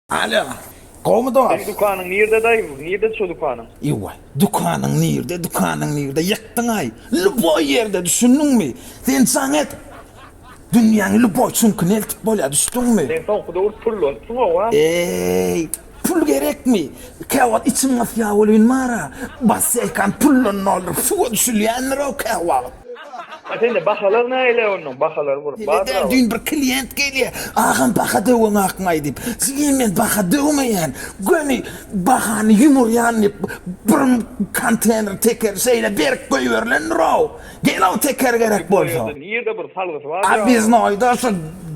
Alo. Gowmy dost? Seň dükanyň nirde daýy? Nirde şu dükanyň? Ewaý, dükanyň nirde, dükanyň nirde? Ýykdyňaý. Lýuboý ýerde, düşündiňmi? Sen jaň et. Dünýäň lýuboý çüňküne eltip bolýar, düşdüňmi? Sen soňky döwür pullanypsyň owa. Eý, pul gerekmi? Käwagt içim gysýar welin bar-a, basseýkam puldan dolduryp suwa düşülýändir-ow käwagt. A sende bahalar naýle onuň bahalar bur Nede däl düýn bir klient gelýä agam baha döwüň akmaý diýip jigen men baha döwmeýän göni bahany ýumurýan diýip bir kontener teker şeýle berk goýberilendirow gelow teker gerek bolsa. Nirde bir salgysy bar ýa. Obýeznoýda şu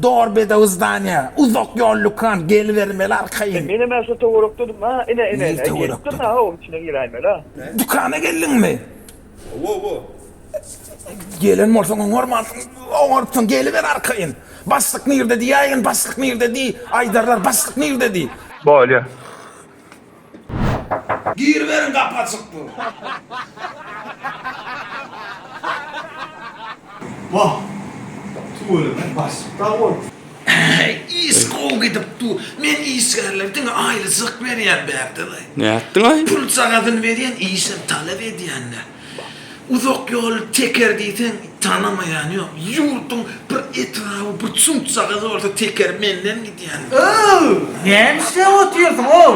dor bedew zdaniýa uzak ýol lükan gelibermeli arkaýyn. Menem ä şu töwerekdedimä ine ine ine gelipdirn a oň içine giräýmeli a. Dükana geldiňmi? Owowo. Gelen bolsaň oňarmansyň. Oňarypsyň geliber arkaýyn. Başlyk nirde diýäýgin başlyk nirde diý aýdarlar başlyk nirde diý. Bolýa. Giriberiň gapy açyk dur. Wah. Tüweleme başlyk dag bol. Iş gowy gidip dur. Men işgärlere diňe aýlyjak berýän Bägdadaý. Nätdiňaý? Pul çagasyny berýän, işem talap edýänler. Uzak ýoly teker diýseň, tanamaýany ýok. Ýurduň bir etraby, bir çuňçagasy bolsa teker menden gidýän. Öw, näme işläp otyrsyň, ow?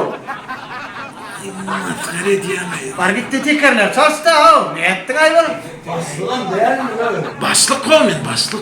Masgara edýäňaý. Bar git-de tekerleri çalyş-da, ow. Nätdiňaý bir? Başlygam dälmi, öw? Başlyk-ow men, başlyk.